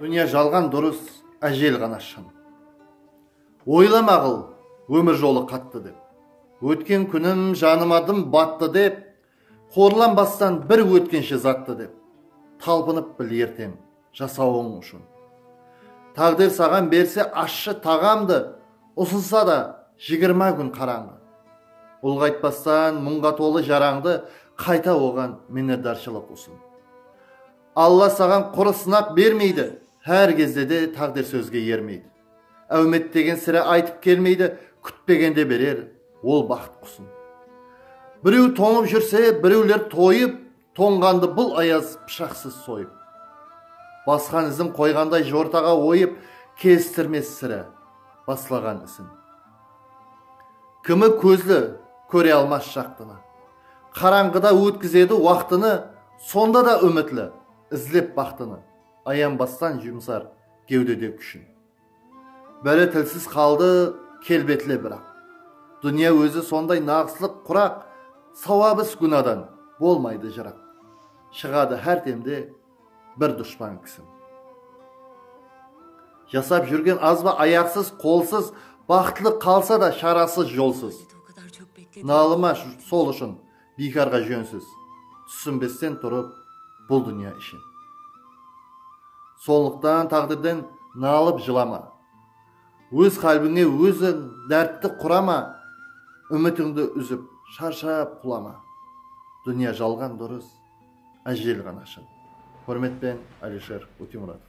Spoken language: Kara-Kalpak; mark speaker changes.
Speaker 1: Dúnya jalǵan durıs, ájel ǵana shın. Oylamaǵıl, ómir jolı qattı dep. Ótken kúnim janıma dım battı dep, Qorlanbastan bir ótkenshe zattı dep. Talpınıp bil erteń jasawıń ushın. Táǵdir saǵan berse ashshı taǵamdı, Usılsa da jigirma kún qarańǵı. Ulǵaytpastan muńǵa tolı jarańdı, Qayta oǵan minnetdarshılıq usın. Alla saǵan qurı sınaq bermeydi, hár gezde de táǵdir sózge ermeydi. Áwmet degen sirá aytıp kelmeydi, kútpegende berer, ol baxıt qusın. Birew tońıp júrse, birewler toyıp, tońǵandı bul ayaz pıshaqsız soyıp. Basqan izin qoyǵanday jortaǵa oyıp, kestirmes sirá, baslaǵan isin. Kúmi kózli, kóre almas jaqtını. Qarańǵıda ótkizedi waqtını, Sonda da úmitli, izlep baxtını, Ayanbastan jumsar gewdede kúshin. Biri tilsiz qaldı, kelbetli biraq, Dúnya ózi sonday naǵıslıq quraq, Sawabıs gúnadan bolmaydı jıraq, Shıǵadı hár demde, Bir dushpan kisin. Jasap júrgen azba ayarsız, qolsız, Baxıtlı qalsa da sharasız, jolsız. Nalıma sol ushın, biykarǵa jónsiz, Túsinbesten turıp bul dúnya ishin. Sonlıqtan táǵdirden nalıp jılama, Óz qálbińe óziń dártti qurama, Úmitińdi úzip, sharshap qulama, Dúnya jalǵan durıs. Ájel ǵana shın. Húrmetpen Alisher Ótemuratov.